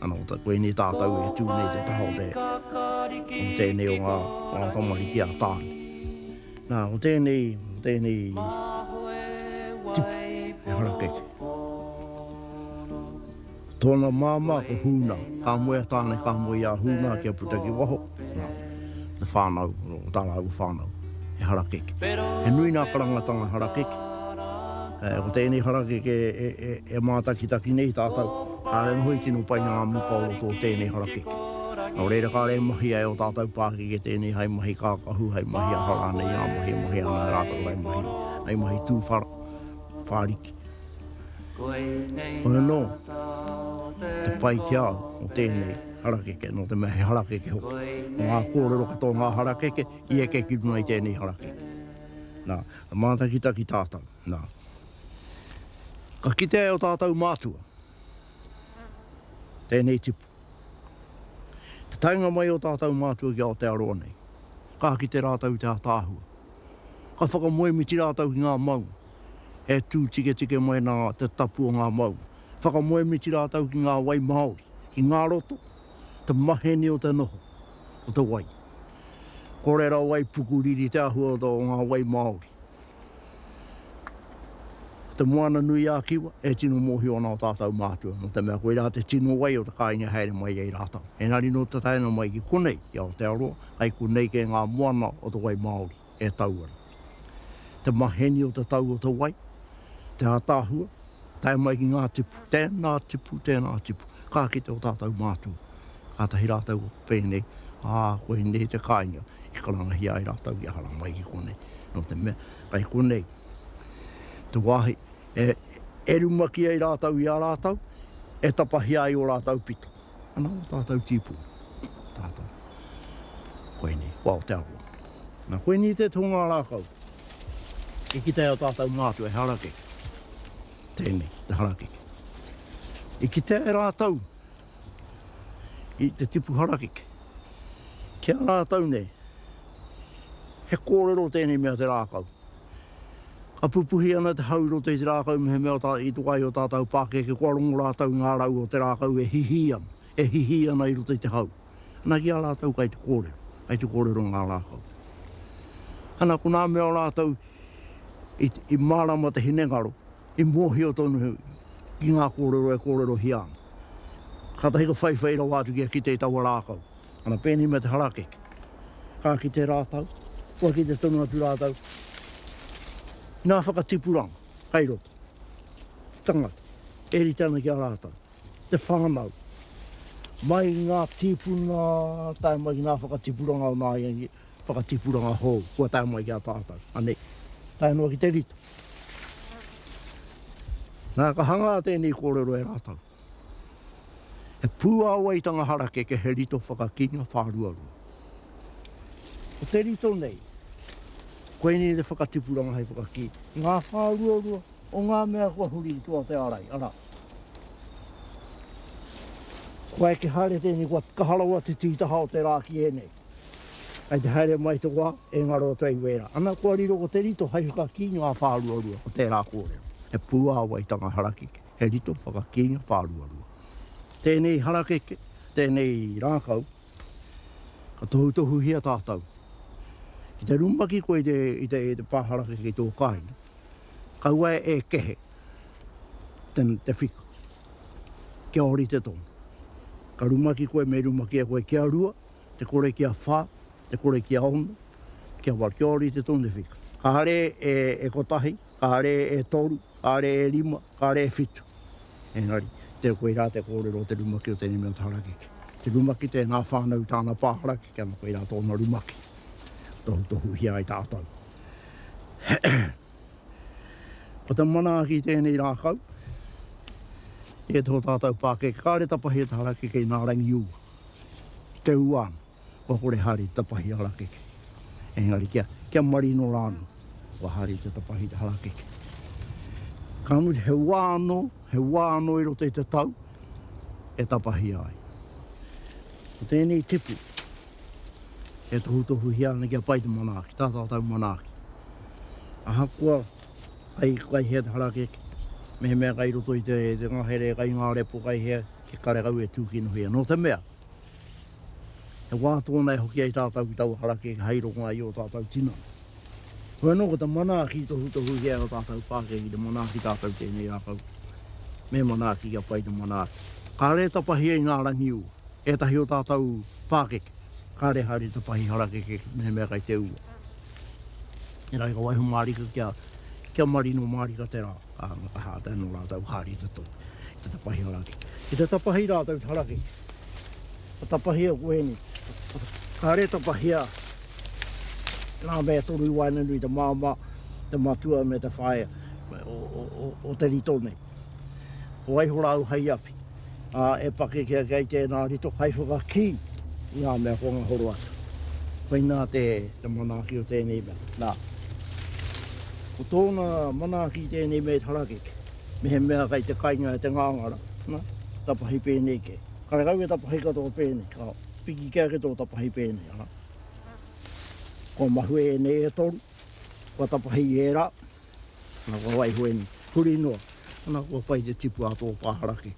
Ana, ko koinei tātou e tū nei te taha o te, o tēnei o ngā, ngā tamariki a Tāne. Nā, ko tēnei, ko tēnei tipu e harakeke. Tōna māmā ko Hūnā, ka moe a Tāne, ka moe i a Hūnā kia puta ki waho. Te whānau, tā rāua whānau, he harakeke. He nui ngā karangatanga harakeke. Ko tēnei harakeke e mātakitaki nei tātou, kāre anō i tino pai ngā muka o roto o tēnei harakeke. Nō reira, kāre e mahi ai ō tātou pākeke tēnei hai mahi kākahu, hai mahi aha rānei, ngā mahi e mahi ana e rātou, hai mahi, hai mahi tū whara, whāriki. Hoi anō, te pai ki a au o tēnei. Harakeke, nō te mea he harakeke hoki. Ngā kōrero katoa o ngā harakeke, i eke ki runga i tēnei harakeke. Nā, ka mātakitaki ki tātau, nā. Ka kitea e ō tātau mātua tēnei tipu. Te taenga mai o tātau mātua ki Aotearoa nei, ka kite rātau i te ātaahua. Ka whakamoemiti rātau ki ngā maunga, e tū tiketike mai nā te tapu o ngā maunga. Whakamoemiti rātou ki ngā wai māori, ki ngā roto, te maheni o te noho, o te wai. Kore rawa i pukuriri te āhua o ngā wai māori. Ko Te Moana-nui-ā-Kiwa e tino mōhio ana o tātou mātua, nō te mea koirā te tino wai o te kāinga e haere mai ai rātou. Engari nō te taenga mai ki konei, ki Aotearoa, kai konei kē ngā moana o te wai māori. e tau ana. Te maheni o te tau o te wai, te ataahua, tae mai ki ngā tipu, tēnā tipu, tēnā tipu, ka kite o tātou mātua, kātahi rātou ko pēnei, ā, koinei te kāinga i karangahia ai rātou i ahara mai ki konei, nō te mea, kai konei te wāhi e rumaki ai rātou i a rātou, e tapahia ai o rātou pito. Ana o tātou tīpū, tātou. Koinei, ko Aotearoa. Na, koinei te tōnga rākau. I ki tea tātou mātou e harakeke. Tēnei, te harakeke. I ki tea e rātou, i te tipu harakeke. Ki a rātou nei, he kōrero tēnei mea te rākau. Ka pupuhi ana te hau i roto i te rākau mehemea tā i toka ai ō tātau pākeke kua rongo rātau i ngā rau o te rākau e hihī ana, e hihī ana i roto i te hau. Ana ki a rātau kai te kōrero, kai te kōrero ngā rākau. Ana ko nā mea o rātau i mārama te hinengaro, i mōhio tonu ki ngā kōrero e kōrerohia ana. Kātahi ka whaiwhai rawa atu kia kite i taua rākau. Ana pēnei mea te harake. Ka kite rātau, kua kite tonu atu rātau nā whakatipuranga kai roto. Te tangata e rite ana ki a rātau, te whānau, mai i ngā tīpuna tae mai ki ngā whakatipuranga o nāiangi, whakatipuranga hou kua tae mai ki a tātau. Anei, tae noa ki te rite. Nā, ka hangā tēnei kōrero e rātau. He pūāwaitanga harakeke, he rito whakakīnga whāruarua. Ko te rito nei, koinei te whakatipuranga hei whakakī. Ngā whāruarua o ngā mea kua huri i tua o te ārai, arā, kua eke haere tēnei, kua kaha rawa te tītaha o te rā ki ēnei. Kei te haere mai te wā, e ngaro atu ai wērā. Ana kua riro ko te rito hei whakakī ngā whāruarua o tērā kōrero. He pūāwaitanga harakeke. He rito whakakīnga whāruarua. Tēnei harakeke, tēnei rākau, ka tohutohuhia tātou. Ki te rumaki koe i te pā harakeke i tō kāinga, kaua e kehe te whika, kia ōrite tonu. Ka rumaki koe, me rumakia koe kia rua, te kore kia whā, te kore kia ono, kia waru, kia ōrite tonu te whika. Kāre e kotahi, Kāre e toru, kāre e rima, kāre e whitu. Engari, tē koirā te kōrero o te rumaki o tēnei mea o te harakeke. Te rumaki te ngā whānau tāna pā harakeke ana koirā tōna rumaki. Tohutohuhia ai tātou. Ko te manaaki i tēnei rākau, tē tō tātou pākeke, kāre tapahia te harakeke i nā rangi ū, te ua ana. kua kore haere te tapahi harakeke. Engari kia, kia marino rā anō, kua haere te tapahi te harakeke. Ka mutu, he wā anō, he wā anō i roto i te tau, e tapahia ai. Ko tēnei tipu, e tohutohuhia ana kia pai te manaaki, tā tātou manaaki. Ahakoa kai, kai hea te harakeke, mehemea kai roto i te, te ngahere, kai ngā repo, kai hea, he karekau e tūkinohia. Nō te mea, He wā tōna e hoki ai tātou ki taua harakeke hai rongoā i ō tātou tinana. Hoi anō ko te manaaki tohutohuhia e ō tātou pākehā ki te manaaki tātou tēnei rākau, me manaaki kia pai te manaaki. Kāre e tapahia i ngā rangi ū, ētahi o tātou pākeke, kāre haere te pahi harakeke mehemea kai te ua. Engari ka waiho mārika kia, kia marino mārika te rā. Ā, mā te hātai anō rātou haere i te toi, i te tapahi harake. Ki te tapahi rātou i te harake, ka tapahia ko ēnei. Kāre tapahia ngā mea toru i waenganui i te māmā, te matua me te whaea o te rito nei. Ko waiho rāu hei awhi? ā, e pakeke ake ai tēnā rito hai whakakī i ngā mea ko ngā horo atu. Koinā te manaaki o tēnei mea, nā, ko tōna manaaki i tēnei mea i te harakeke, mehemea kei te kainga e te ngāngara, nā, tapahi pēnei kē. Karekau e tapahi katoa pēnei, ka piki kē ake tō tapahi pēnei, arā, kua mahue ēnei e toru, kua tapahi i ērā, Ana kua waiho ēnei. Huri noa. Ana kua pai te tipu a tō pāharake.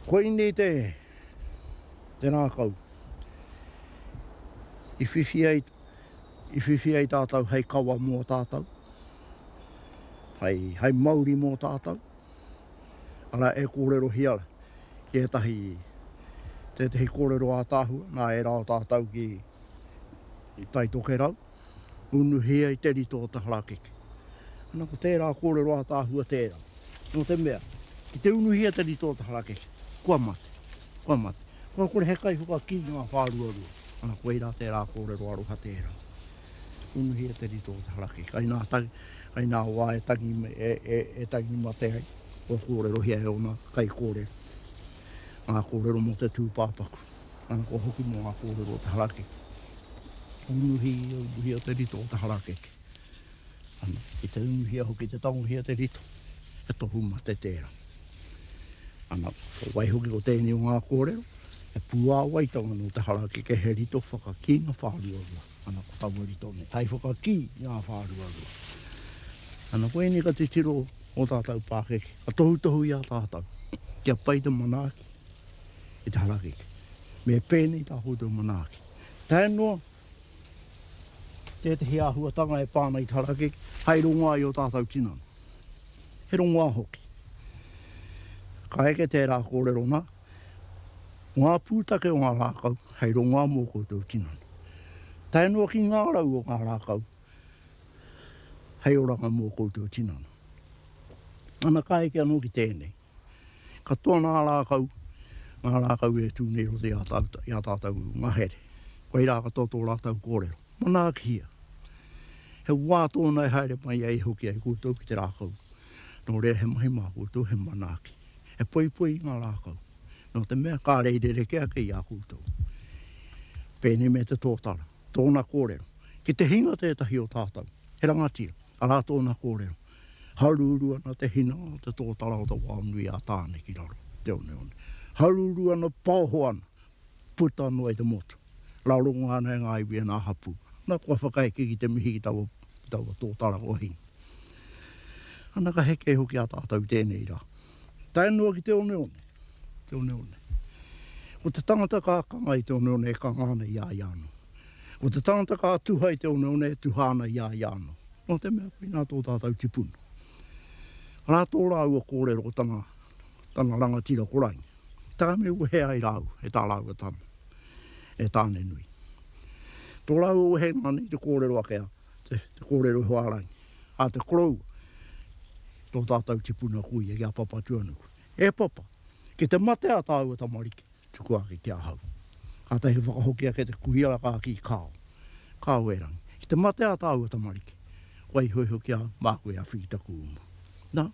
Koinei te, te rākau i whiwhi ai, i whiwhi ai tātou hei kawa mō tātou, hei, hei mauri mō tātou. Arā, e kōrerohia ki ētahi, tētahi kōrero ātaahua, nā, e rā tātou ki Tai Tokerau. Unuhi ai te rito o te harakeke. Ana ko tērā kōrero ātaahua tērā. Nō te mea, ki te unuhia te rito o te harakeke, kua mate, kua mate. Kua kore he kaihuka ki ngā whāruarua. Ana koirā tērā kōrero aroha tērā. Unuhia te rito o te harakeke. Kai nā, kai nā wā e tangi, e, e, e tangi mate ai, kua kōrerohia e ōna kaikōrero ngā kōrero mō te tūpāpaku. Ana kua hoki mō ngā kōrero o te harakeke. Unuhi, unuhia te rito o te harakeke. Ana, ki te unuhia hoki, te tangohia te rito, he tohu mate tērā. Ana, ko wai hoki ko tēnei o ngā kōrero, he pūāwaitanga nō te harakeke, he rito whakakī ngā whāruarua. Ana, ko taua rito nei, hai whakakī ngā whāruarua. Ana, ko ēnei ka titiro o tātou pākeke, ka tohutohu i a tātou, kia pai te manaaki, i te harakeke. Me pēnei tā koutou manaaki. Tae noa, tētehi āhuatanga e pā ana i te harakeke, hai rongoā i ō tātou tinana. He rongoā hoki. Ka eke tērā kōrero nā, ngā pūtake o ngā rākau hei rongoā mō koutou tinana. Tae noa ki ngā rau o ngā rākau hei oranga mō koutou tinana. Ana ka eke anō ki tēnei. Katoa ngā rākau, ngā rākau e tū nei roto i ā tātou ngahere. Koirā katoa tō rātou kōrero. Manaakihia! He wā tōna e haere mai ai hoki ai koutou ki te rākau. Nō reira he mahi mā koutou, he manaaki. He poipoi ngā rākau. Nō te mea kāre i rerekē ake i a koutou. Pēnei me te tōtara. Tōna kōrero. Ki te hinga tētahi o tātou, he rangatira, arā tōna kōrero. Haurūrū ana te hina, te tōtara o te wao nui a Tāne ki raro, te oneone. Haurūrū ana, paoho ana, puta noa i te motu. Raronga ana e ngā iwi e ngā hapū. Nā, kua whakaeke ki te mihi ki taua, ki taua tōtara kua hinga. Ana ka heke hoki a tātou i tēnei rā. Tae noa ki te oneone. te oneone. Ko te tangata ka akanga i te oneone e kanga ana i a ia anō. Ko te tangata ka tuha i te oneone e tuha ana i a ia anō. Nō te mea, koinā tō tātou tipuna. Arā tō rāua kōrero ko tana, tana rangatira ko Rangi. Taka me wehe ai rāua e tā rāua tama, e Tāne-nui. Tō rāua wehenga nei te kōrero ake a, te, te kōrero iho a Rangi, a te koroua, tō tātou tipuna ko ia, i a Papatūānuku. E Papa, ki te mate a tāua tamariki, tuku ake ki ahau. Kātahi he whakahoki ake te kuhiara ka kī, Kāo. Kāo erangi. Ki te mate a tāua tamariki, kua iho iho ki a māku e awhi i taku uma. Nā,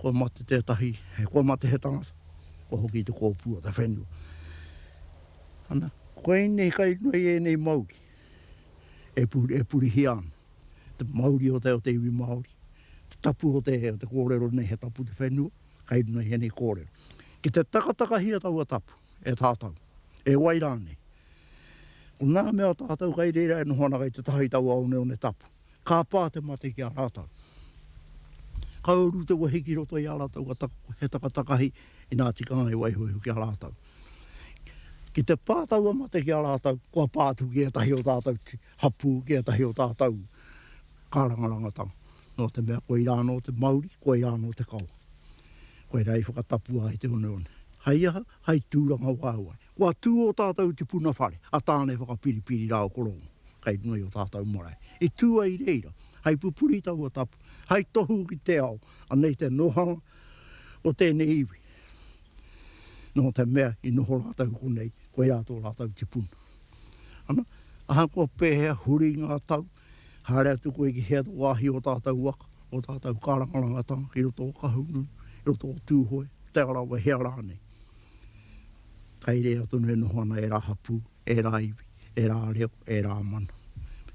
kua mate tētahi, he kua mate he tangata, kua hoki i te kōpū o te whenua. Ana, koinei kai runga i ēnei mauī e purihia ana. te mauri o te, o te iwi Māori, te tapu o te, o te kōrero nei he tapu te whenua, kai runga i ēnei kōrero. Ki te takatakahia taua tapu e tātou, e wai rānei, ko ngā mea tātou kai reira e noho ana kai te taha i taua oneone tapu, ka pā te mate ki a rātou. Ka uru te wehi ki roto i ā rātou ka taka, he takatakahi inā tika ai waiho iho ki a rātou. Ki te pā taua mate ki a rātou, kua pā atu ki ētahi o tātou hapū ki ētahi o tātou kārangarangatanga, nō te mea koirā anō te mauri, koirā anō te kawa. Koirā i whakatapua ai te oneone. Hei aha? Hei tūrangawaewae. Kua tū ō tātou tipuna whare, a Tāne Whakapiripiri rā o Korōngo, kei runga i ō tātou marae. I tū ai reira, hei pupuri taua tapu, hei tohu ki te ao, anei te nōhanga o tēnei iwi, nō te mea i noho rātou konei, koirā tō rātou tipuna. Ana, ahakoa pēhea huri ngā tau, haere atu koe ki hea te wāhi o ō tātou waka, ō tātou kārangarangatanga i roto o Kahungunu, i roto o Tūhoe, Te Arawa, hea rānei. Kai reira tonu e noho ana ērā hapū, ērā iwi, ērā reo, ērā mana.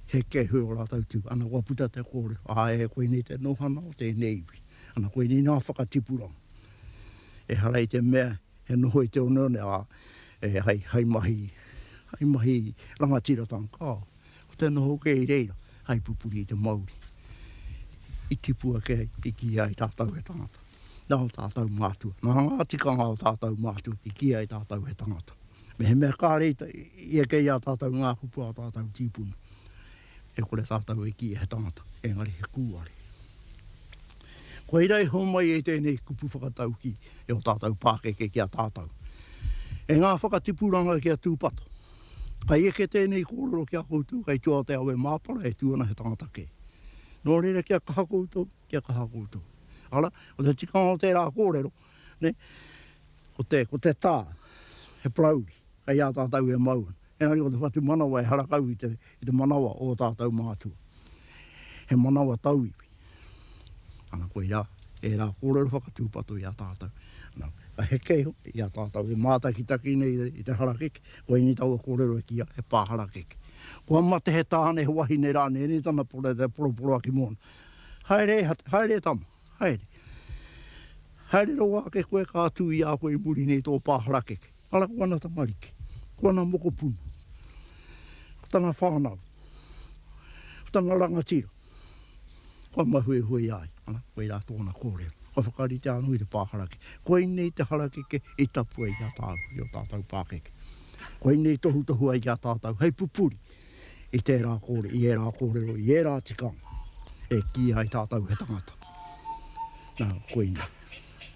He kēhui ō rātou tū. Ana, kua puta te kōrero, āe, koinei te nohana o tēnei iwi. Ana, koinei ngā whakatipuranga. Ehara i te mea, He noho i te oneone, ā, e, hei, hei mahi, hei mahi rangatiratanga, kāo. Ko te noho kē i reira, hei pupuri i te mauri. I tipu ake ai, i kī ai tātou he tangata. Nā ō tātou mātua, nā ngā tikanga o tātou mātua i kī ai tātou he tangata. Mehemea kāre i, i eke i a tātou ngā kupu a tātou tīpuna, e kore tātou e kīia he tangata, engari he kūare. Koira i homai e tēnei kupu whakataukī e o tātou pākeke ki a tātou. E ngā whakatipuranga ki a Tūpato. Kai eke tēnei kōrero ki a koutou, kai tua o te awe māpara e tū ana he tangata kē. Nō reira kia kaha koutou, kia kaha koutou. Ara, ko te tikanga o tērā kōrero, ne, ko te, ko te tā, he parauri, kai a tātou e mau ana. Engari ko te whatumanawa e harakau i te, i te manawa o ō tātou mātua. He manawa tauiwi. Ana koirā, ērā kōrero whakatūpato i a tātou. Ana, ka heke iho i a tātou e mātakitaki nei i te harakeke, ko ēnei taua kōrero e kīa, he pā harakeke. Kua mate he tāne, he wahine rānei, ēnei tana poroporoaki mōna. Haere, haere e tama, haere. Haere rawa ake koe ka tū i a koe i muri nei tō pā harakeke. Ara ko ana tamariki, ko ana mokopuna, ko tana whānau, ko tana rangatira, kua mahuehue ai, ana, koe rā tōna kōrero. Kua whakaritea anō i te pāharake. Koinei te harakeke i tapua i a tāu, i ō tātou pākeke. Koinei i tohutohu ai ki a tātou hei pupuri i tērā kōrero, i ērā kōrero, i ērā tikanga e kīia ai tātou he tangata. Nā, koinei.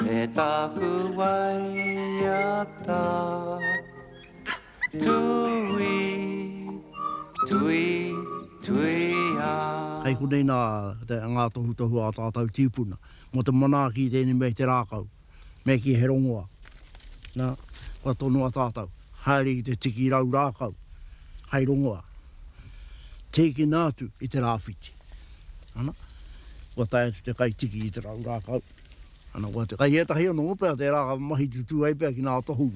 Me tāku waiata tui, tui, tuia. Hei konei nā ngā tohutohu ā tātau tīpuna mō te manaaki i tēnei mea i te rākau, me kī he rongoa, nā, kua tonoa tātau, haere ki te tiki rau rākau, hei rongoa, tīkina atu i te rāwhiti. Ana, kua tae atu te kai tiki i te rau rākau. Ana koa te kai etahi ono opea tera ka mahi tutu ai pea ki nga tohu.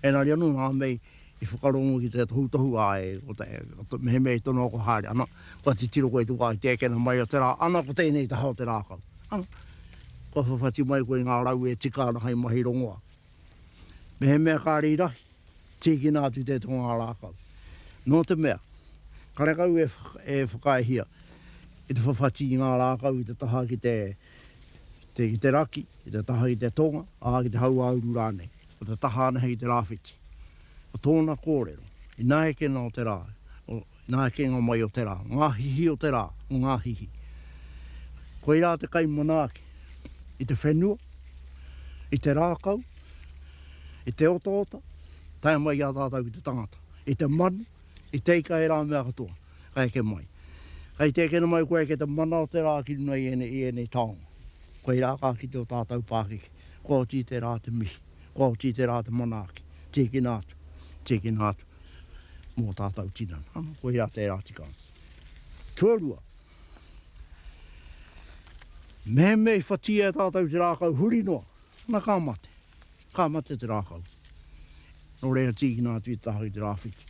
Enari ano nga mei i whakarongo ki te tohutohu a e ko te mehemea i tono ako haere ana kua titiro koe i te wa i te ekena mai o te ra ana ko tenei taha o te rakau ana kua whawhati mai koe i nga rau e tika ana hai mahi rongoa. Mehemea kare i rahi, tikina atu te to nga rakau. No te mea, karekau e whakaehia i te whawhati i nga rakau i te taha ki te. ki te raki, ki te taha i te tonga, ā, ki te hauāuru rānei. Ko te taha ana hei te rāwhiti. Ko tōna kōrero, ina ekena o te rā, ina ekenga mai o te rā, ngā hihi o te rā, o ngā hihi. Koirā te kai manaaki i te whenua, i te rākau, i te otaota, tae mai i a tātou ki te tangata, i te manu, I teika ērā mea katoa, ka eke mai. Kai te eke mai koe ki te mana o te rā ki runga i ēnei, i ēnei taonga. Koirā ka kite o tātau pākiki, kua oti i te rā te mihi, kua oti i te rā te manaaki, tīkina atu, tīkina atu mō tātau tinana. Ano, koirā tērā tikanga. Tuarua, mehemea i whatia e tātau te rākau huri noa, na ka mate, ka mate te rākau. Nō reira tīkina atu i te taha ki te rāwhiti.